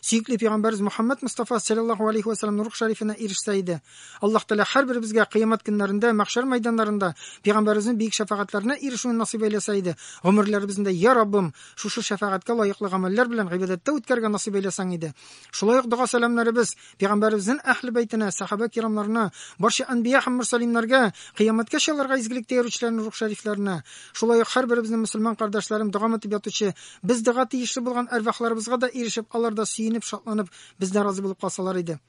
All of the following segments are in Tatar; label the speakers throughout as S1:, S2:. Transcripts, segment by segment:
S1: Сөекле пәйгамбәрбез Мөхәммәд Мустафа саллаллаһу алейхи ва саллям нур шәрифенә ирешсә иде. Аллаһ Тәгалә һәрберебезгә кыямәт көннәрендә, мәхшәр мәйданнарында пәйгамбәребезнең биек шәфәгатьләренә ирешүне насыйп әйләсә иде. Гомерләребезне дә, Я Раббым, шушы шәфәгатькә лаеклы гамәлләр белән гыйбадәттә үткәрергә насыйп әйләсәң иде. Шулай ук дога-сәламнәребез пәйгамбәребезнен әһле бәйтенә, сәхабә кирамнарына, барча әнбия һәм мөрсәлимнәргә, кыямәткә чалырга изгелектә йөрүчеләрнең рух шәрифләренә, шулай ук һәрберебезнең мөселман кардәшләрем догам итеп ятучы Без дога тиешле булган әрвахларыбызга да ирешеп, алар да сөенеп, шатланып, бездән разый булып калсалар иде.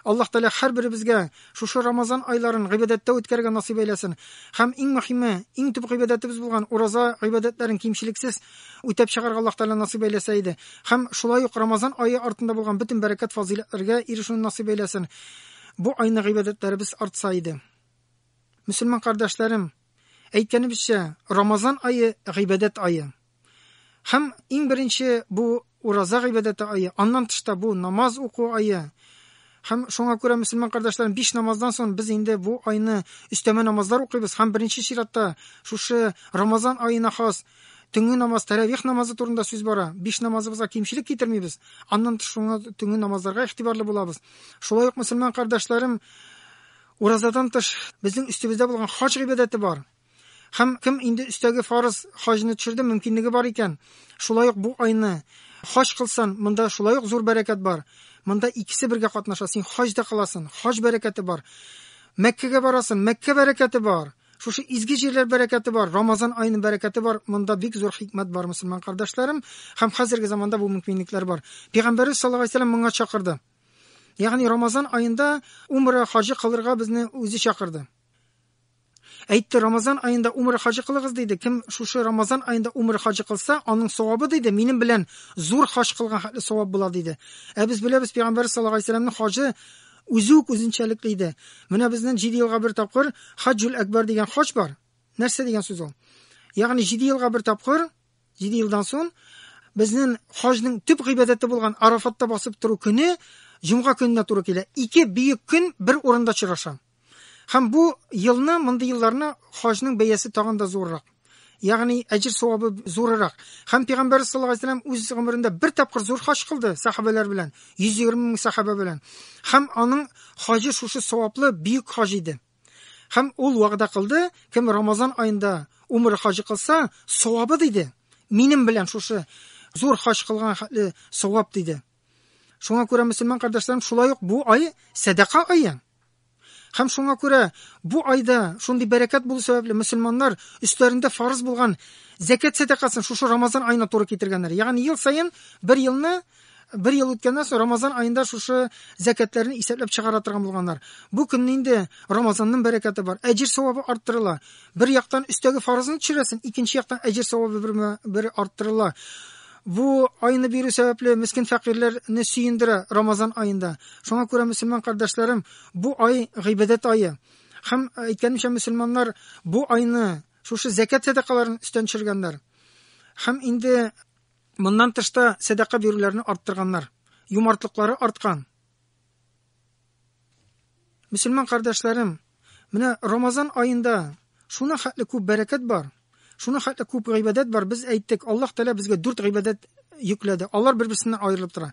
S1: Аллаһ Тәгалә һәрберебезгә шушы Рамазан айларын гыйбадәттә үткәрергә насыйп әйләсен һәм иң мөһиме, иң төп гыйбадәтебез булган ураза гыйбадәтләрен кимчелексез үтәп чыгарга Аллаһ Тәгалә насыйп әйләсә иде һәм шулай ук Рамазан ае артында булган бөтен бәрәкәт фазыйләтләргә ирешүне насыйп әйләсен. Бу айны гыйбадәтләребез артса иде. Мөселман кардәшләрем, әйткәнебезчә, Рамазан ае гыйбадәт ае. Һәм иң беренче бу ураза гыйбадәте айы, аннан тыш та бу намаз уку айы. Һәм шуңа күрә мөселман кардәшләрем биш намаздан соң без инде бу айны өстәмә намазлар укыйбыз һәм беренче чиратта шушы Рамазан аена хас төнге намаз, тәрәвих намазы турында сүз бара. Биш намазыбызга кимчелек китермибез. Аннан тыш шуңа төнге намазларга игътибарлы булабыз. Шулай ук мөселман кардәшләрем уразадан тыш безнең өстебездә булган хаҗ гыйбадәте бар. Һәм кем инде өстәге фарыз хаҗны төшерде, мөмкинлеге бар икән, шулай ук бу айны хаҗ кылсан, монда шулай ук зур бәрәкәт бар. Монда икесе бергә катнаша. Син хаҗ да кыласын, хаҗ бәрәкәте бар. Мәккәгә барасын, Мәккә бәрәкәте бар. Шушы изге җирләр бәрәкәте бар, Рамазан аеның бәрәкәте бар. Монда бик зур хикмәт бар, мусульман кардәшләрем, һәм хәзерге заманда бу мөмкинлекләр бар. Пәйгамбәрбез саллаллаһу алейһи вәсәлләм моңа чакырды. Ягъни Рамазан аенда умра хаҗы кылырга безне үзе чакырды. Әйтте, Рамазан аенда умра хаҗы кылыгыз, диде. Кем шушы Рамазан аенда умра хаҗы кылса, аның савабы, диде, минем белән зур хаҗ кылган хәтле савап була, диде. Ә без беләбез, пәйгамбәр саллаллаһу алейһи вәсәләмнең хаҗы үзе үк үзенчәлекле иде. Менә безнең җиде елга бер тапкыр Хаҗжул Әкбар дигән хаҗ бар. Нәрсә дигән сүз ул? Ягъни җиде елга бер тапкыр, җиде елдан соң безнең хаҗның төп гыйбадәте булган Арафатта басып тору көне җомга көненә туры килә. Ике бөек көн бер урында очраша. Һәм бу елны, мондый елларны хаҗның бәясе тагын да зуррак. Ягъни әҗир савабы зуррак. Һәм пәйгамбәр саллаллаһу алейһи вәсәлләм үз гомерендә бер тапкыр зур хаҗ кылды сахабәләр белән, 120 мең сахаба белән. Һәм аның хаҗы шушы саваплы бөек хаҗ иде. Һәм ул вәгъдә кылды, кем Рамазан аенда умыр хаҗы кылса, савабы диде. Минем белән шушы зур хаҗ кылган хәтле савап диде. Шуңа күрә, мөселман кардәшләрем, шулай ук бу ай сәдака айы. Һәм шуңа күрә бу айда шундый бәрәкәт булу сәбәпле мөселманнар өстәрендә фарыз булган зәкәт сәдакасын шушы Рамазан аена туры китергәннәр. Ягъни ел саен бер елны бер ел үткәннән соң Рамазан аенда шушы зәкәтләрне исәпләп чыгара торган булганнар. Бу көнне инде Рамазанның бәрәкәте бар. Әҗир савабы арттырыла. Бер яктан өстәге фарызны төшерәсең, икенче яктан әҗир савабы бер, бер арттырыла. Бу айны бирү сәбәпле мискен фәкыйрьләрне сөендерә Рамазан аенда. Шуңа күрә мөселман кардәшләрем, бу ай гыйбадәт ае. Һәм әйткәнемчә мөселманнар бу айны шушы зәкәт сәдакаларын өстән төшергәннәр. Һәм инде моннан тышта сәдака бирүләрне арттырганнар. Юмартлыклары арткан. Мөселман кардәшләрем, менә Рамазан аенда шуна хәтле күп бәрәкәт бар, шуна хәтле күп гыйбадәт бар. Без әйттек, Аллаһ Тәгалә безгә дүрт гыйбадәт йөкләде. Алар бер-берсеннән аерылып тора.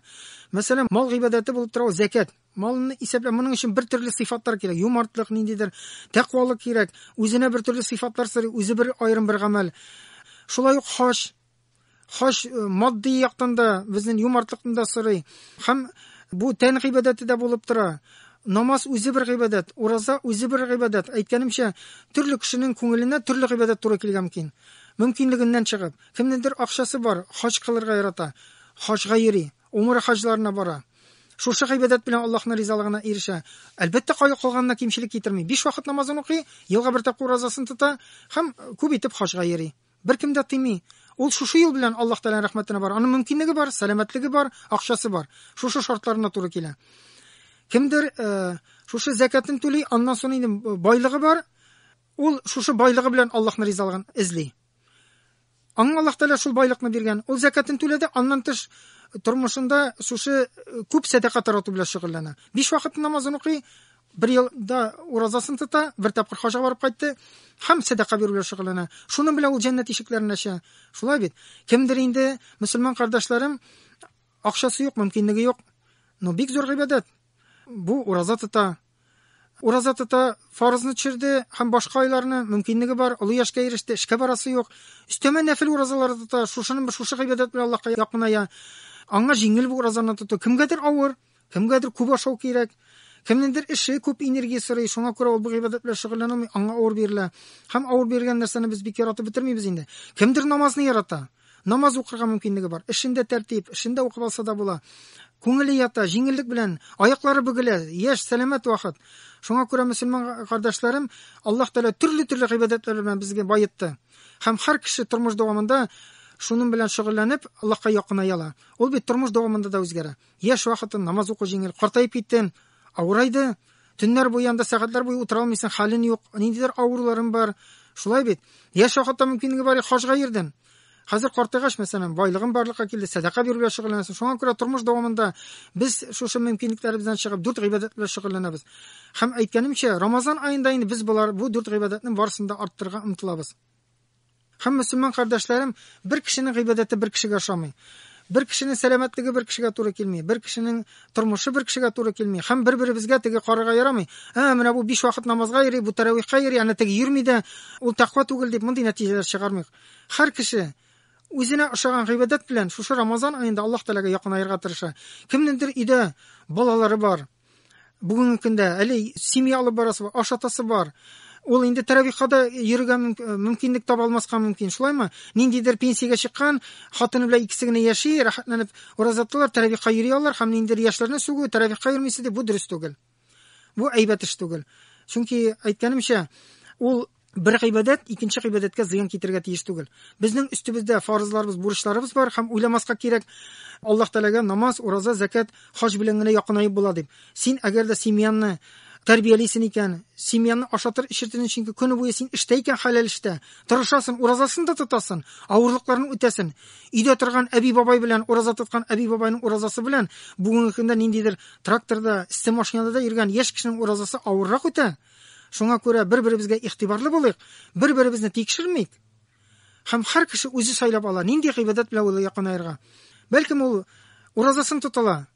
S1: Мәсәлән, мал гыйбадәте булып тора зәкәт. Малны исәпләп, моның өчен бер төрле сыйфатлар кирәк. Юмартлык ниндидер, тәкъвалык кирәк, үзенә бер төрле сыйфатлар сорый, үзе бер аерым бер гамәл. Шулай ук хаҗ Хач э, матди яктан да безнең юмартлыкны да сорый һәм бу тән гыйбадәте дә булып тора. Намаз үзе бер гыйбадәт, ураза үзе бер гыйбадәт. Әйткәнемчә, төрле кешенең күңеленә төрле гыйбадәт туры килгән мөмкин. Мөмкинлегеннән чыгып, кемнедер акчасы бар, хач кылырга ярата, хачга йөри, умыр хаҗларына бара. Шушы гыйбадәт белән Аллаһның ризалыгына ирешә. Әлбәттә, кая калганына кимчелек китерми. Биш вакыт намазын укый, елга бер тапкыр уразасын тота һәм күп итеп хаҗга йөри. Беркем дә тыймый. Ул шушы юл белән Аллаһ Тәгаләнең рәхмәтенә бара. Аның мөмкинлеге бар, сәламәтлеге бар, акчасы бар. Шушы шартларына туры килә. Кемдер э, шушы зәкатын түли, аннан соң инде байлыгы бар, ул шушы байлыгы белән Аллаһның ризалыгын эзли. Аңа Аллаһ Тәгалә шул байлыкны биргән. Ул зәкатын түләде, аннан тыш тормышында шушы э, күп сәдака тарату белән шөгыльләнә. Биш вакыт намазын укый, Бер елда уразасын тота, бер тапкыр хаҗга барып кайтты һәм сәдака бирү белән шөгыльләнә. Шуның белән ул җәннәт ишекләрен ача. Шулай бит. Кемдер инде мөселман кардәшләрем акчасы юк, мөмкинлеге юк. Но бик зур гыйбадәт. Бу ураза тота. Ураза тота, фарызны төшерде һәм башка айларны мөмкинлеге бар, олы яшькә иреште, эшкә барасы юк. Өстәмә нәфил уразалары тота, шушының шушы гыйбадәт белән Аллаһка якыная. Аңа җиңел бу уразаны тоту, кемгәдер авыр, Кемгәдер күп ашау кирәк, кемнеңдер эше күп энергия сорый, шуңа күрә ул бу гыйбадәт белән шөгыльләнә алмый, аңа авыр бирелә. Һәм авыр бирелгән нәрсәне без бик яратып бетермибез инде. Кемдер намазны ярата, намаз укырга мөмкинлеге бар, эшендә тәртип, эшендә укып алса да була. Күңеле ята, җиңеллек белән, аяклары бөгелә, яшь, сәламәт вакыт. Шуңа күрә мөселман кардәшләрем, Аллаһ Тәгалә төрле-төрле гыйбадәтләр белән безгә баетты. Һәм һәр кеше тормыш дәвамында шуның белән шөгыльләнеп, Аллаһка якыная ала. Ул бит тормыш дәвамында да үзгәрә. Яшь вакытым, намаз уку җиңел. Картаеп киттем, авырайды. Төннәр буе анда сәгатьләр буе утыра алмыйсың, хәлен юк, ниндидер авыруларым бар. Шулай бит. Яшь вакытта мөмкинлеге бар, хаҗга йөрдем. Хәзер картайгач, мәсәлән, байлыгым барлыкка килде, сәдака бирү белән шөгыльләнәсең. Шуңа күрә тормыш дәвамында без шушы мөмкинлекләребездән чыгып дүрт гыйбадәт белән шөгыльләнәбез. Һәм әйткәнемчә, Рамазан аенда инде без болар бу дүрт гыйбадәтнең барысын да арттырырга омтылабыз. Һәм мөселман кардәшләрем, бер кешенең гыйбадәте бер кешегә ошамый. Бер кешенең сәламәтлеге бер кешегә туры килми, бер кешенең тормышы бер кешегә туры килми. Һәм бер-беребезгә теге карарга ярамый. Ә, менә бу биш вакыт намазга йөри, бу тәрәвихка йөри, әнә теге йөрми дә, ул тәкъва түгел дип мондый нәтиҗәләр чыгармыйк. Һәр кеше үзенә ошаган гыйбадәт белән шушы Рамазан аенда Аллаһ Тәгаләгә якынаерга тырыша. Кемнеңдер өйдә балалары бар, бүгенге көндә әле семья алып барасы бар ашатасы бар ул инде тәрәвихада йөрергә э, мөмкинлек таба алмаска мөмкин шулаймы ниндидер пенсиягә чыккан хатыны белән икесе генә яши рәхәтләнеп ураза тоталар тәрәвихка йөри алар һәм ниндидер яшьләрне сүгү тәрәвихка йөрмисез дип бу дөрес түгел бу әйбәт эш түгел чөнки әйткәнемчә ул бер гыйбадәт икенче гыйбадәткә зыян китерергә тиеш түгел. Безнең өстебездә фарызларыбыз, бурычларыбыз бар һәм уйламаска кирәк, Аллаһ Тәгаләгә намаз, ураза, закат, хаҗ белән генә якынаеп була дип. Син әгәр дә семьяңны тәрбиялисен икән, семьяны ашатыр эчертер чөнки көне буе син эштә икән хәләл эштә, тырышасын, уразасын да тотасын, авырлыкларын үтәсен. Өйдә торган әби бабай белән ураза тоткан әби бабайның уразасы белән бүгенге көндә ниндидер тракторда, исте машинада да йөргән яшь кешенең уразасы авыррак үтә. Шуңа күрә бер-беребезгә игътибарлы булыйк, бер-беребезне тикшермик. Һәм һәр кеше үзе сайлап ала, нинди гыйбадәт белән ул якынаерга. Бәлкем ул уразасын тотыла,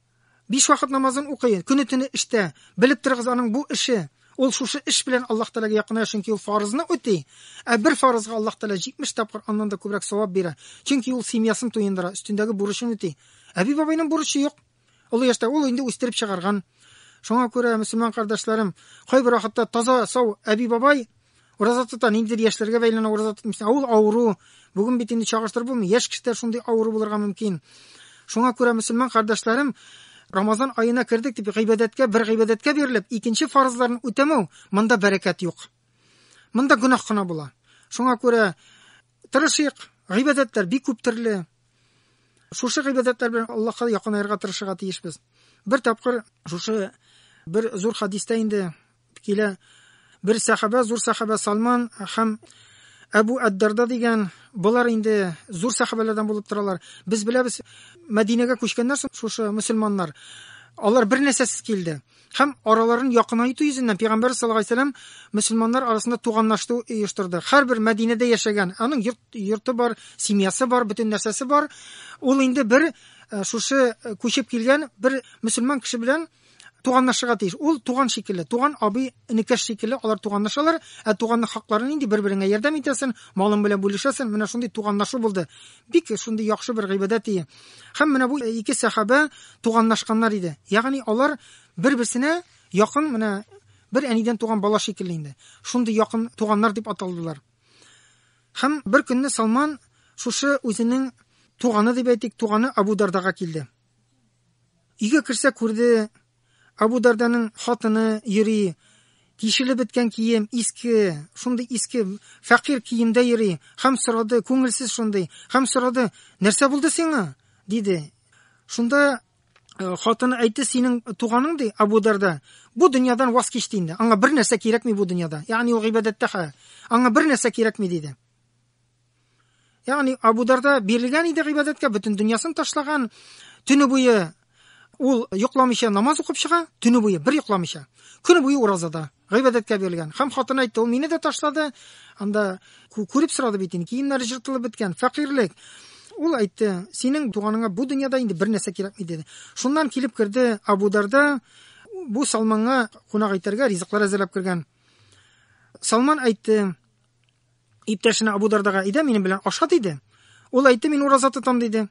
S1: биш вакыт намазын укый, көне төне эштә. Белеп торыгыз, аның бу эше, ул шушы эш белән Аллаһ Тәгаләгә якыная, чөнки ул фарызны үти. Ә бер фарызга Аллаһ Тәгалә 70 тапкыр аннан да күбрәк савап бирә, чөнки ул семьясын туендыра, өстендәге бурычын үти. Әби-бабайның бурычы юк, Олы яшьтә ул инде үстереп чыгарган. Шуңа күрә, мөселман кардәшләрем, кайбер вакытта таза, сау әби-бабай ураза тота, ниндидер яшьләргә бәйләнә ураза тотмыйсы. Ә ул авыру. Бүген бит инде чагыштырып булмый. Яшь кешеләр шундый авыру булырга мөмкин. Шуңа күрә, мөселман кардәшләрем, Рамазан аена кердек дип, гыйбадәткә, бер гыйбадәткә бирелеп, икенче фарызларын үтәмәү, монда бәрәкәт юк. Монда гөнаһ кына була. Шуңа күрә Тырышыйк, гыйбадәтләр бик күп төрле. Шушы гыйбадәтләр белән Аллаһка якынаерга тырышырга тиешбез. Бер тапкыр шушы бер зур хадистә инде килә. Бер сахаба, зур сахаба Салман һәм Әбу Әддарда дигән болар инде зур сахабәләрдән булып торалар. Без беләбез, Мәдинәгә күчкәннәр соң шушы мусульманнар. Алар бер нәрсәсез килде. һәм араларын якынайту йөзеннән пәйгамбәр саллаллаху алейһи вәсәлләм мөселманнар арасында туганлаштыру оештырды. Һәрбер Мәдинәдә яшәгән, аның йорт, йорты бар, семьясы бар, бөтен нәрсәсе бар. Ул инде бер э, шушы э, күчеп килгән бер мөселман кеше белән туганлашырга тиеш. Ул туган шикелле, туган абый, энекәш шикелле алар туганлашалар, ә туганның хаклары нинди, бер-береңә ярдәм итәсен, малың белән бүлешәсен, менә шундый туганлашу булды. бик шундый яхшы бер гыйбадәт ие. Һәм менә бу ике сәхабә туганлашканнар иде. Ягъни алар бер-берсенә якын менә бер әнидән туган бала шикелле инде. Шундый якын туганнар дип аталдылар. Һәм бер көнне Салман шушы үзенең туганы дип әйтик, туганы Абу Дардага килде. Өйгә керсә күрде, Абу Дарданың хатыны йөри, тишелеп беткән кием, иске, шундый иске, фәкыйрь киемдә йөри, һәм сорады, күңелсез шундый, һәм сорады, нәрсә булды сиңа? диде. Шунда э, хатыны әйтте, синең туганың, ди, Абу Дарда, бу дөньядан ваз кичте инде, аңа бер нәрсә кирәкми бу дөньяда, ягъни ул гыйбадәттә хәл, аңа бер нәрсә кирәкми, диде. Ягъни Абу Дарда бирелгән иде гыйбадәткә, бөтен дөньясын ташлаган, төне буе ул йокламыйча намаз укып чыга, төне буе бер йокламыйча. Көне буе уразада, гыйбадәткә бирелгән. Хәм хатыны әйтте, ул мине дә ташлады. Анда күреп сорады бит инде, киемнәре җыртылып беткән, фәкыйрьлек. Ул әйтте, синең туганыңа бу дөньяда инде бер нәрсә кирәкми диде. Шуннан килеп керде Абу Дарда бу Салманга кунак итәргә ризыклар әзерләп кергән. Салман әйтте, Иптәшенә Абу Дардага әйдә, минем белән аша диде. Ул әйтте, мин ураза тотам диде.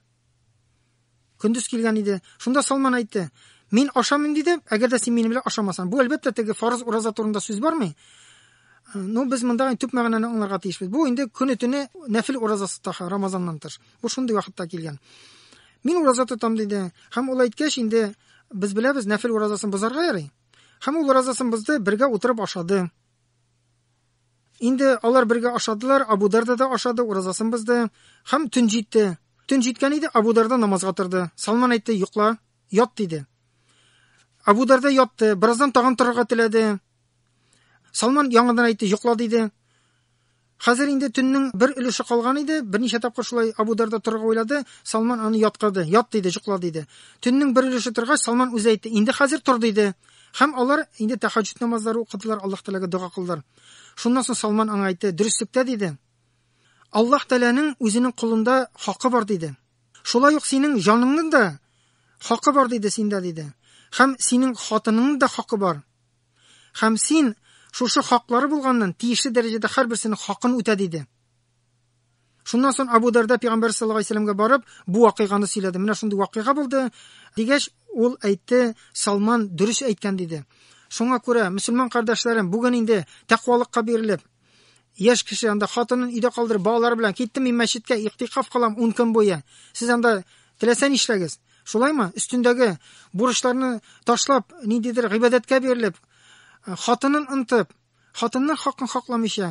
S1: Көндез килгән иде. Шунда Салман әйтте, мин ашамыйм диде, әгәр дә син минем белән ашамасаң. Бу әлбәттә теге фарыз ураза турында сүз бармый. Ну, без монда төп мәгънәне аңларга тиешбез. Бу инде көне төне нәфил уразасы таха Рамазаннан тыш. Бу шундый вакытта килгән. Мин ураза тотам диде. Хәм ул әйткәч инде без беләбез, нәфил уразасын бозарга ярый. Хәм ул уразасын бозды, бергә утырып ашады. Инде алар бергә ашадылар, Абу Дарда да ашады, уразасын бозды. Һәм төн җитте. Төн җиткән иде, Абу Дарда намазга торды. Салман әйтте, йокла, ят, диде. Абу Дарда ятты, бераздан тагын торырга теләде. Салман яңадан әйтте, йокла, диде. Хәзер инде төннең бер өлеше калган иде, берничә тапкыр шулай Абу Дарда торырга уйлады, Салман аны яткырды, ят, диде, йокла, диде. Төннең бер өлеше торгач, Салман үзе әйтте, инде хәзер тор, диде. Һәм алар инде тәһаҗҗүд намазлары укыдылар, Аллаһ Тәгаләгә дога кылдылар. Шуннан соң Салман аңа әйтте, Дөреслектә, диде, Аллаһ Тәгаләнең үзенең колында хакы бар, диде. Шулай ук синең җаныңның да хакы бар, диде, синдә, диде. Һәм синең хатыныңның да хакы бар. Һәм син шушы хаклары булганнан тиешле дәрәҗәдә һәрберсенең хакын үтә, диде. Шуннан соң Абу Дарда пәйгамбәр саллаллаһу алейһи вәсәләмгә барып, бу вакыйганы сөйләде. Менә шундый вакыйга булды, дигәч, ул әйтте, Салман дөрес әйткән диде. Шуңа күрә, мөселман кардәшләрем, бүген инде тәкъвалыкка бирелеп, яшь кеше анда хатынын өйдә калдырып, балалар белән киттем мин мәчеткә, иктикаф кылам 10 көн буе. Сез анда теләсә нишләгез. Шулаймы? Өстендәге бурычларны ташлап, ниндидер гыйбадәткә бирелеп, хатынын ынтып, Хатынның хакын хакламыйча,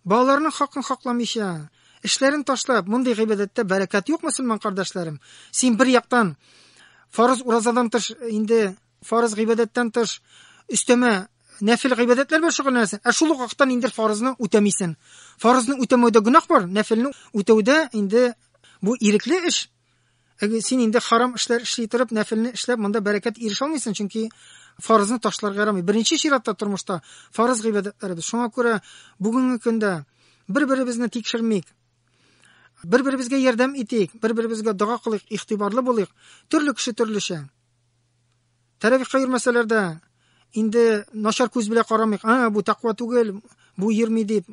S1: балаларның хакын хакламыйча, эшләрен ташлап, мондый гыйбадәттә бәрәкәт юк, мөселман кардәшләрем. Син бер яктан фарыз уразадан тыш, инде фарыз гыйбадәттән тыш өстәмә нәфил гыйбадәтләр белән шөгыльләнәсең, ә шул ук вакыттан инде фарызны үтәмисең. Фарызны үтәмәүдә гөнаһ бар, нәфилне үтәүдә инде бу ирекле эш. Әгәр син инде харам эшләр эшли торып, нәфилне эшләп, монда бәрәкәт ирешә алмыйсың, чөнки фарызны ташларга ярамый. Беренче чиратта тормышта фарыз гыйбадәтләребез. Шуңа күрә бүгенге көндә бер-беребезне тикшермик. Бер-беребезгә ярдәм итик, бер-беребезгә дога кылыйк, игътибарлы булыйк. Төрле кеше төрлечә. Тәрәвихка йөрмәсәләр дә, инде начар күз белә карамыйк, а, бу тәкъва түгел, бу йөрми дип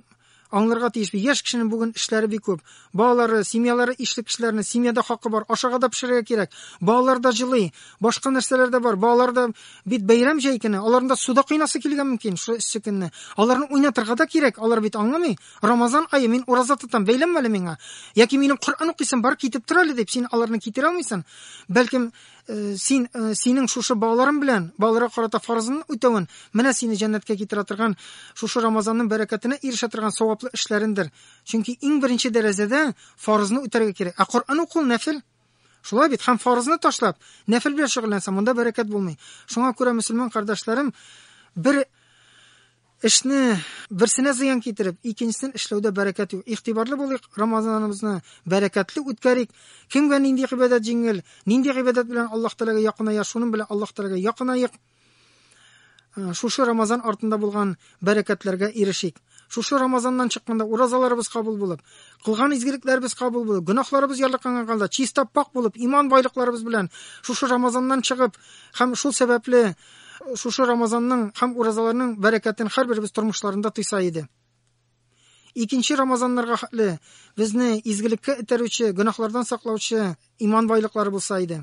S1: аңларга тиеш. Яшь кешенең бүген эшләре бик күп. Балалары, семьялары ишле кешеләрне, семьяда хакы бар, ашарга да пешерергә кирәк. Балалар да җылый, башка нәрсәләр дә бар. Балалар да бит бәйрәм җәй көне, аларында суда кыйнасы килгән мөмкин, шул эссе көнне. Аларны уйнатырга да кирәк, алар бит аңламый. Рамазан ае, мин ураза тотам, бәйләнмә әле миңа. Яки минем Коръән укыйсым бар, китеп тор әле дип, син аларны китерә алмыйсың. Бәлкем, Э, син э, синең шушы балаларың белән балаларга карата фарызыңны үтәвен менә сине җәннәткә китерә торган шушы рамазанның бәрәкәтенә ирешә торган саваплы эшләрендер чөнки иң беренче дәрәҗәдә фарызны үтәргә кирәк ә коръән уку нәфел шулай бит һәм фарызны ташлап нәфел белән шөгыльләнсәң монда бәрәкәт булмый шуңа күрә мөселман кардәшләрем бер Эшне берсенә зыян китереп, икенчесен эшләүдә бәрәкәт юк. Игътибарлы булыйк, Рамазаныбызны бәрәкәтле үткәрик. Кемгә нинди гыйбадәт җиңел, нинди гыйбадәт белән Аллаһ Тәгаләгә якыная, шуның белән Аллаһ Тәгаләгә якынаек. Э, шушы Рамазан артында булган бәрәкәтләргә ирешик. Шушы Рамазаннан чыкканда уразаларыбыз кабул булып, кылган изгелекләребез кабул булып, гөнаһларыбыз ярлыккан халда чиста пак булып, иман байлыкларыбыз белән шушы Рамазаннан чыгып һәм шул сәбәпле Шушы Рамазанның һәм уразаларның бәрәкәтен һәрберебез тормышларында тойса иде. Икенче Рамазаннарга хәтле безне изгелеккә этәрүче, гөнаһлардан саклаучы иман байлыклары булса иде.